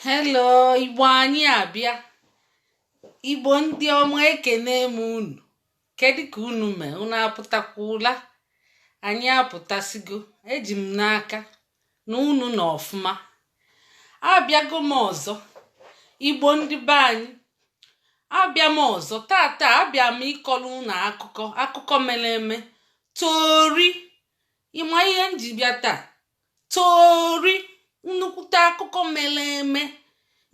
hello igbo anyị abịa igbo ndị ọma ekene m unu kedu ka unu mee unu apụtakwula anyị apụtasigo eji m n'aka na unu nọ ọfụma abịago m ọzọ igbo ndị be anyị abịa m ọzọ tata abịa m ịkọrọ unu akụkọ akụkọ mere eme tori ị ma ihe m ji bịa taa tori nnukwute akụkọ mere eme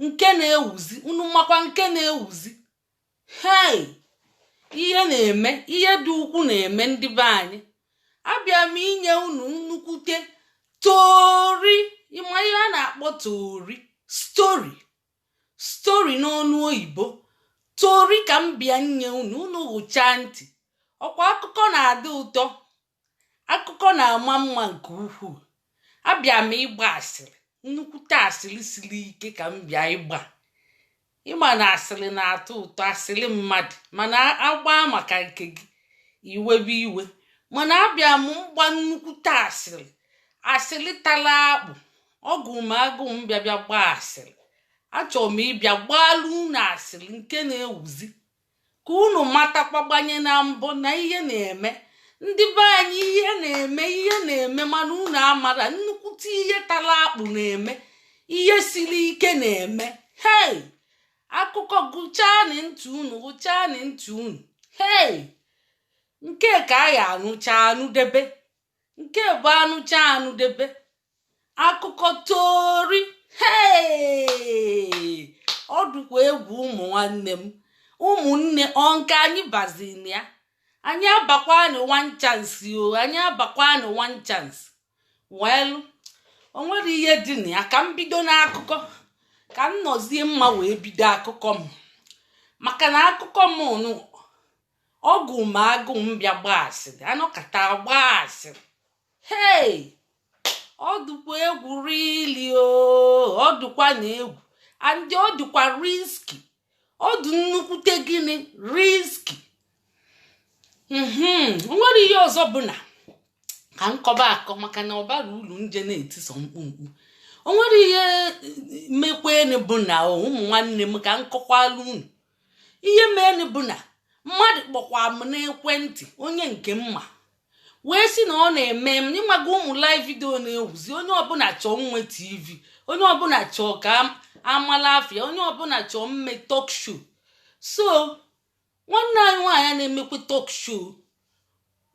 nke na-ewuzi unu makwa nke na-ewuzi hei ihe na-eme ihe dị ukwu na-eme ndị be anyị abịa m inye unu nnukwute tori ị ma ihe a na-akpọ tori story story n'ọnụ oyibo tori ka m bịa nye unu unu hụchaa ntị ọkwa akụkọ na-adị ụtọ akụkọ na-ama mma nke ukwuu abịa m ịgba asịrị nnukwute asịrị siri ike ka m bịa ịgba ị ma na asịrị na-atọ ụtọ asịrị mmadụ mana a gbaa maka nke gị i webe iwe mana abịa m mgba nnukwute asịrị asịrị tara akpụ ọ gụ m agụ m bịa bịa gbaa asịrị achọrọ m ịbịa gbaalụ unu asịrị nke na-ewuzi ka unu matakwa gbanye na mbọ na ihe na-eme ndị be anyị ihe na-eme ihe na-eme mana unu amara nnukwute ihe tara akpụ na-eme ihe siri ike na-eme hei akụkọ gụchaanị ntị unu gụchaanị ntị unu hei nke ka a ya-anụcha anụdebe nke bụ a nụchaa a nụdebe akụkọ tori hei ọ dụkwa egwu ụmụ nwanne m ụmụnne ọ nke anyị bazi na ya anyị abakwanụ one chance o anyị abakwanụ one chance well o nwere ihe dị na ya ka m bido n'akụkọ ka m nọzie mma wee bido akụkọ m maka na akụkọ m nụ ọ gụ m agụ m bịa gbaa asịrị a nọkata gbaa asịrị hei ọ dụkwa egwu really o ọ dụkwa na egwu and ọ dụkwa risky ọ dị nnukwute gịnị risky mhm o nwere ihe ọzọ bụ na ka m kọba akọ maka na ọ bara ulu m je na-eti sọ mkpu mkpu o nwere ihe mekwenụ bụ na ụmụ nwanne m ka m kọkwalụ unu ihe meenụ bụ na mmadụ kpọkwa m n'ekwentị onye nke m ma wee sị na ọ na-eme m ị maga ụmụ live video na-ewuzi onye ọbụla chọọ nwe tv onye ọbụla chọọ ka a mala afa ya onye ọbụla chọọ mme talk show so nwanne anyị nwaanyị na-emekwa talk show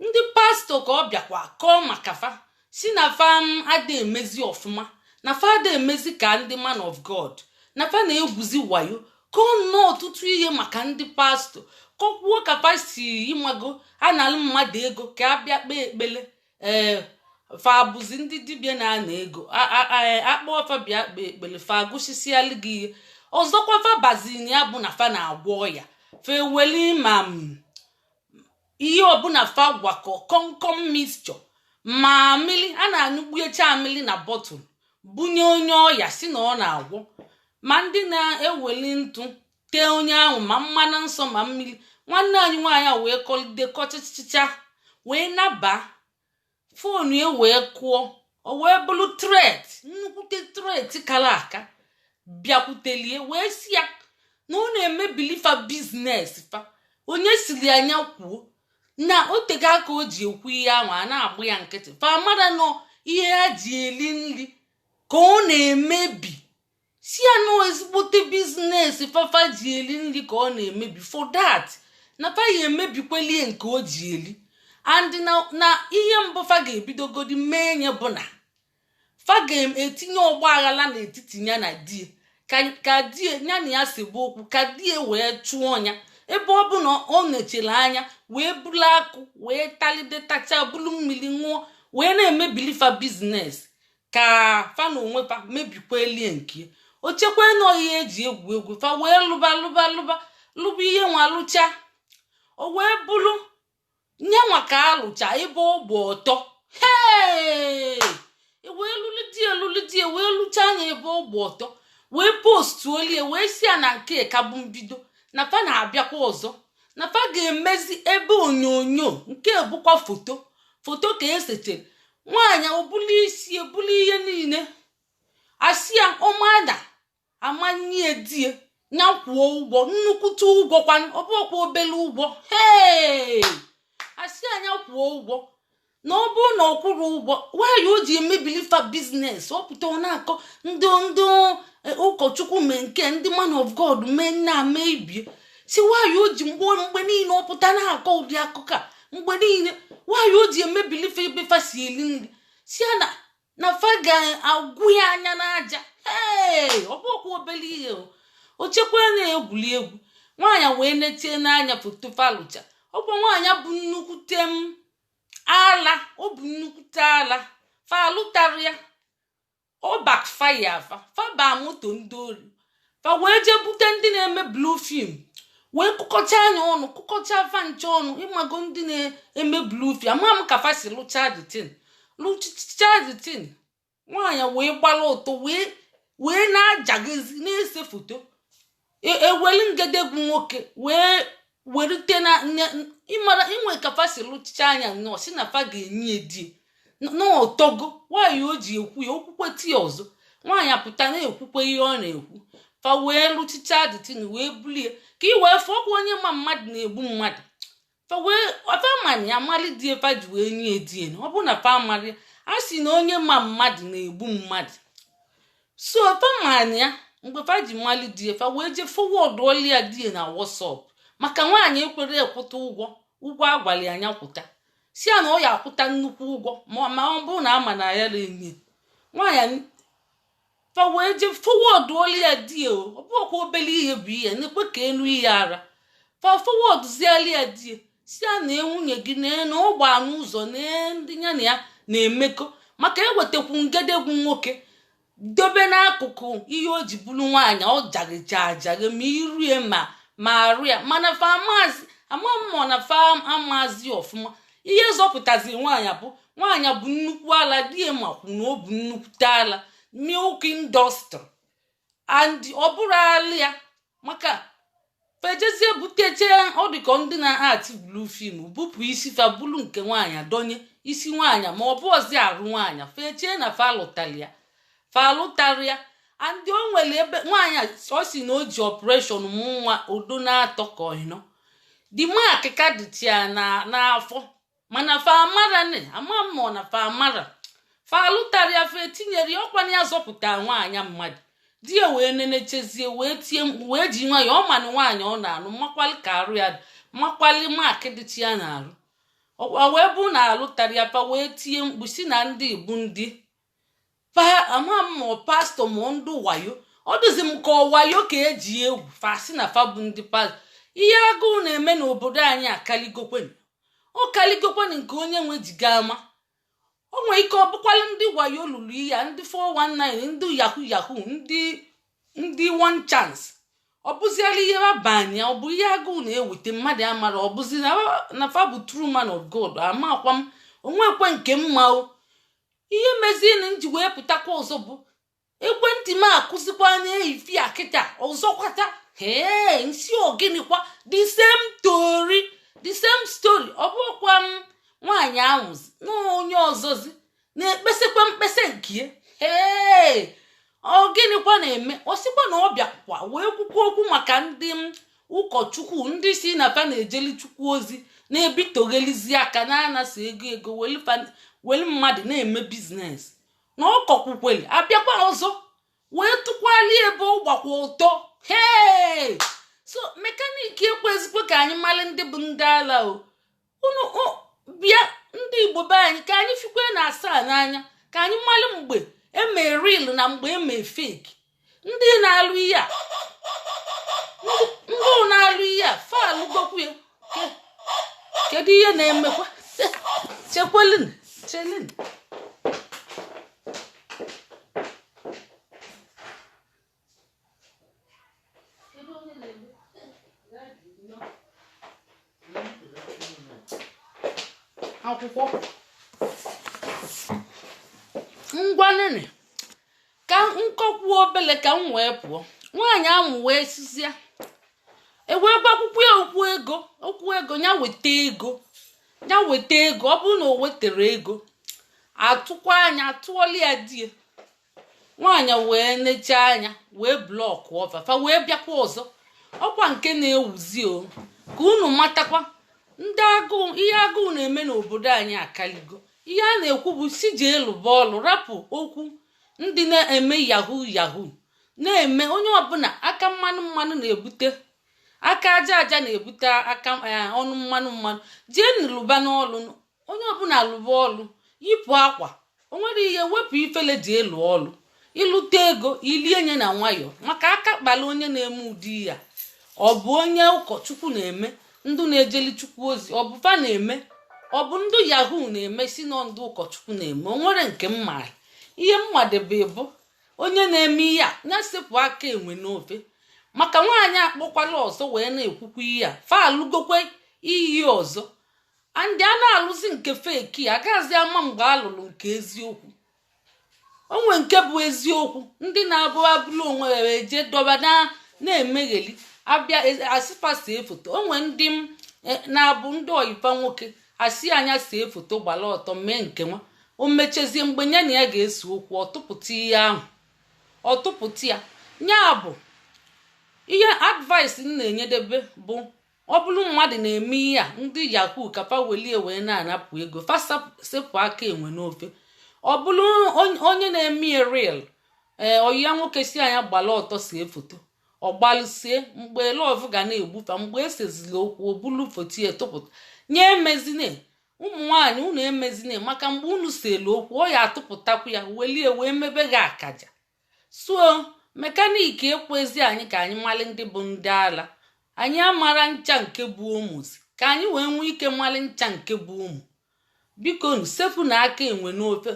ndị pastọ ka ọ bịakwa kọọ maka fa si na fa adị emezi ọfụma na fa adị emezi ka ndị man of god na fa na-egwuzi wayo kọọ nnọọ ọtụtụ ihe maka ndị pastọ kọkwuo ka fa si ịmago analụ mmadụ ego ka a bịa kpee ekpele ee fa bụzi ndị dibịa na-ana ego a kpọọ fa bịa kpee ekpele fa agụsisialụ gị ihe ọzọkwa fa bazi na ya bụ na fa na-agwọ ọya fa eweli ma ihe ọbụla fa gwakọ kọmkọm mixture ma amịlị a na-anyụkpuecha amịlị na bọtụl bunye onye ọya si na ọ na-agwọ ma ndị na-eweli ntụ tee onye ahụ ma mmanụ nsọ ma mmiri nwanne anyị nwaanyị a wee kọlide kọchịchịcha wee naba fonu ya wee kụọ o wee bụrụ tret nnukwute tret kara aka bịakwutelie wee si ya na ọ na-emebili fa biznes fa onye siri nya kwuo na o tego aka o ji ekwu ihe ahụ a na-agba ya nkịtị fa mara na ọ ihe ha ji eli nri ka ọ na-emebi si ya na ọ ezigbote biznes fa fa ji eli nri ka ọ na-emebi for that na fa ya emebikwelie nke o ji eli and na na ihe mbụ fa ga-ebidogodi mee nya bụ na fa ga-etinye ọgba aghara n'etiti ya na di ya ka di ya na ya sebe okwu ka di ya wee chụọ ya ebe ọ bụ na o nechara anya wee bulu akụ wee talide tacha bulu mmiri ṅụọ wee na-emebili fa biznes ka fa na onwe fa mebikwalie nke o chekwa na ọ ihe e ji egwu egwu fa wee lụba lụba lụba lụba ihe nwa lụcha o wee bụrụ nya nwa ka a lụcha ebe ọ gba ọtọ hee e wee lụlide lụlide wee lụcha nya ebe ọ gba ọtọ wee postuolie wee si ya na nke ka bụ mbido na fa na-abịakwa ọzọ na fa ga-emezi ebe onyonyo nke bụkwa foto foto ka e setere nwaanyị ọ bụlụ isi e bụlụ ihe niile a sị ya ọmada amanye die ya kwụọ ụgwọ nnukwute ụgwọ kwa ọ bụkwa obele ụgwọ hee a sị nya kwụọ ụgwọ na ọ bụrụ na ọ kwụrụ ụgwọ why o ji emebili fa biznes ọ pụta ọ na-akọ ndị ndị e ụkọchukwu mee nke ndị man of god mee nna mee ibie si why o ji mgbe mgbe niile ọ pụta na-akọ ụdị akụkọ a mgbe niile why o ji emebili fa ebe fa si eli nri si ya na na fa ga-agwụ ya anya n'aja ee ọ bụkwa obele ihe o o chekwa na egwuri egwu nwaanyị wee netie n'anya foto fa lụcha ọkwa nwaanyị bụ nnukwute m ala ọ bụ nnukwute ala fa lụtara ya ọ backfire fa fa baa moto ndị ori fa wee jee bute ndị na-eme blue film wee kụkọchaa nya ọnụ kụkọcha fa ncha ọnụ ịmago ndị na-eme blue film ama m ka fa si lụcha the thing lụcha the thing nwaanyị wee gbara ọtọ wee na-ajagịzi na-ese foto e, ewelu ngedegwu nwoke wee werute na ịmara e nwe ka fa si lụchichaa nya nnọọ si na fa ga-enye e di e na ọ tọgo nwaanyị o ji ekwu ya okwukwe tii ọzọ nwaanyị apụta na-ekwukwe ihe ọ na-ekwu fa wee lụchicha the thing wee bulu ye ka ị wee fụkwa onye ma mmadụ na-egbu mmadụ fa ma nya mali di e fa ji wee nye e di e ọ bụ na fa mali ya a sị na onye ma mmadụ na-egbu mmadụ so fa ma nya mgbe fa ji mali di e fa wee jee forwardụọlụ ya di e na WhatsApp maka nwaanyị ekwerọ kwụta ụgwọ ụgwọ a gwali a nya kwụta si ya na ọ ya-akwụta nnukwu ụgwọ ma ọ bụrụ na ama na ya na-enye nwaanyị fa wee jee forwardụọlụ ya di ya ọ bụkwa obele ihe bụ ihe nekwe ka enu ihe a ra fa forwardụziali ya di ya si ya na nwunye gị na ọ gbaa n'ụzọ na ndị ya na ya na-emekọ maka ewetakwu ngedegwu nwoke dobe n'akụkụ ihe o ji bụrụ nwaanyị ọ jagịja ajagị ma iru ya ma ma arụ ya mana fa amazi ama m ọ na fa amazi ọfụma ihe zọpụtazi nwaanyị bụ nwaanyị bu nnukwu ala di ya makwu na o bu nnukwute ala milk industry and ọ bụrọ ala ya maka fa ejezie buteche ọ dịka ndị na-actị blue film bupụ isi fa bulu nke nwaanyị donye isi nwaanyị ma ọ bụọzi arụ nwaanyị fa eche na fa lụtara ya fa alụtara ya and o nwere ebe nwaanyị ọ si na o ji operation mụ nwa ọ dị ọ n'atọ ka ọ ịnọ the mark ka dịchị ya n'afọ mana fa amara nị ama m ọ na fa amara fa alụtara ya fa etinyere ya ọ kwa nya zọpụta nwaanyị mmadụ di ya wee nenechezie wee tie mkpu wee ji nwa ya ọ manụ nwaanyị ọ na-alụ makwali ka arụ ya dị makwali mark dịchị ya n'arụ ọ wee bụ na alụtara ya fa wee tie mkpu si na ndị igbu ndị ama m ma pastor ma ndị wayo ọ dịzi m ka ọ wayo ka e ji egwu fa si na fa bụ ndị pastor ihe agụụ na-eme n'obodo anyị akaligokwenụ ọ kaligokwenụ nke onye wee ji ga-ama o nwere ike ọ bụkwala ndị wayo lụrụ ihe a ndị 419 ndị yahoo yahoo ndị ndị one chance ọ bụziela ihe a banye ọ bụ ihe agụụ na-eweta mmadụ amara ọ bụzi na fa bụ true man of God amakwa m o nwekwe nke m ma o ihe mezienụ m ji wee pụtakwa ọzọ bụ ekwentị m akụzikwa anya efifie a kịta ọzọkwata ee m sị ọ gịnịkwa the same story the same story ọ bụkwa m nwaanyị ahụzi na onye ọzọzi na-ekpesikwa mkpesa nke ee ọ gịnịkwa na-eme ọ sịkwa na ọ bịakwa wee kwukwa okwu maka ndị ụkọchukwu ndị sị na fa na-ejeli chukwu ozi na-ebitoghelizi aka na-anasị ego ego weli mmadụ na-eme biznes na ọ kọkwukweli abịakwa ọzọ wee tụkwali ebe ọ gbakwa ọtọ hee so mekaniki ekwezikwa ka anyị mali ndị bụ ndị ala o unu bịa ndị igbo be anyị ka anyị fikwenụ asaa n'anya ka anyị mali mgbe eme real na mgbe eme fake ndị na-alụ ihe a ndị na-alụ ihe a fa alụgokwu ya kedu ihe na-emekwa chekwelin chelin akwụkwọ ngwa nene ka m kọkwuo obele ka m wee pụọ nwaanyị ahụ wee sịzie e wee gwakwukwa ya okwu ego okwu ego ya weta ego ya weta ego ọ bụrụ na o wetara ego atụkwaa nya atụọla ya die nwaanyị wee nechaa anya wee blọkụọ fa fa wee bịakwa ọzọ ọkwa nke na-ewuzi o ka unu matakwa ndị agụụ ihe agụụ na-eme n'obodo anyị akaligo ihe a na-ekwu bụ sị jee lụba ọlụ rapụ okwu ndị na-eme yahoo yahoo na-eme onye ọbụla aka mmanụ mmanụ na-ebute aka aja aja na-ebute aka eh, ọnụ mmanụ mmanụ jeenụ lụbanụ ọlụ onye ọbụla lụba ọlụ yipụ akwa o nwere ihe wepụ ifele jee lụọ ọlụ ị lụta ego i lie nye na nwayọọ maka aka kpala onye na-eme ụdị ya ọ bụ onye ụkọchukwu na-eme ndụ na-ejeli chukwu ozi ọ bụ fa na-eme ọ bụ ndụ yahoo na-eme sị na ndụ ụkọchukwu na-eme o nwere nke m ma ihe m madebe bụ onye na-eme ihe a ya sepụ aka enwe n'ofe maka nwaanyị akpọkwala ọzọ wee na-ekwukwa ihe a fa alụgokwe iyi ọzọ and a na-alụzi nke fake agaghịzi ama mgbe a lụrụ nke eziokwu o nwe nke bụ eziokwu ndị na-abụ e buru onwe ya jee dọba na-emegheli abịa e, a sị fa see foto o nwe ndị m e, na-abụ ndị ọyị fa nwoke a sị nya see foto gbara ọtọ mee nke nwa o mechezie mgbe ya na ya ga-ese okwu ọ tụpụta ihe ahụ ọ tụpụta ya ya bụ ihe advice m na-enyedebe bụ ọ bụlụ mmadụ na-eme ihe a ndị yahoo ka fa welie wee na-anapụ ego fa sepụ aka enwe n'ofe ọ bụlụ onye na-eme ya real ee eh, oyi ya nwoke sị ya gbala ọtọ sie foto ọ gbalụ sie mgbe love ga na-egbu fa mgbe e sezili okwu o bulu foto ya tụpụta onye emezine ụmụ nwaanyị unu emezine maka mgbe unu selu okwu ọ ya atụpụtakwu ya welie wee mebe gị akaja so mechanic ekwezi anyị ka anyị mali ndị bụ ndị ala anyị amara ncha nke bụ Omo zi ka anyị wee nwee ike mali ncha nke bụ Omo bikonu sepụnụ aka enwe n'ofe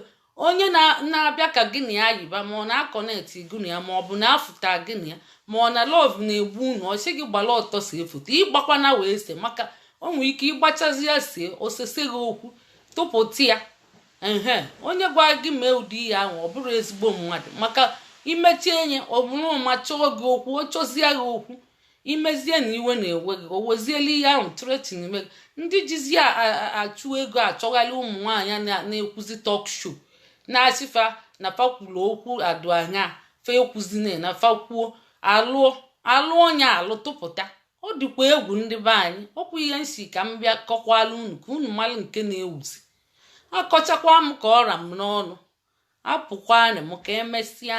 onye na-abịa ka gị na ya yiba ma ọ na-akọnet gị na ya ma ọ bụ na-afụta gị na ya ma ọ na love na-egbu unu ọ sị gị gbala ọtọ sie foto ị gbakwana wee se maka o nwere ike ị gbachazia sie o sese gị okwu tụpụta ya ehe onye gwa gị mee ụdị ihe ahụ ọ bụrọ ezigbo mmadụ maka imechi enye ọ bụrụ ma chọọ gị okwu ọ chọzie gị okwu i mezie na iwe na-ewe gị o weziela ihe ahụ threaten ime gị ndị jizi achụ ego achọgharị ụmụ nwaanyị na-ekwuzi talk show na-asị fa na fa kwulu okwu adụ anya fa ekwuzina na fa kwuo alụọ alụ onye alụ tụpụta ọ dịkwa egwu ndị be anyị ọ kwa ihe m sị ka m bịa kọkwala unu ka unu malụ nke na-ewuzi akọchakwa m ka ọ ra m n'ọnụ apụkwana m ka e mesịa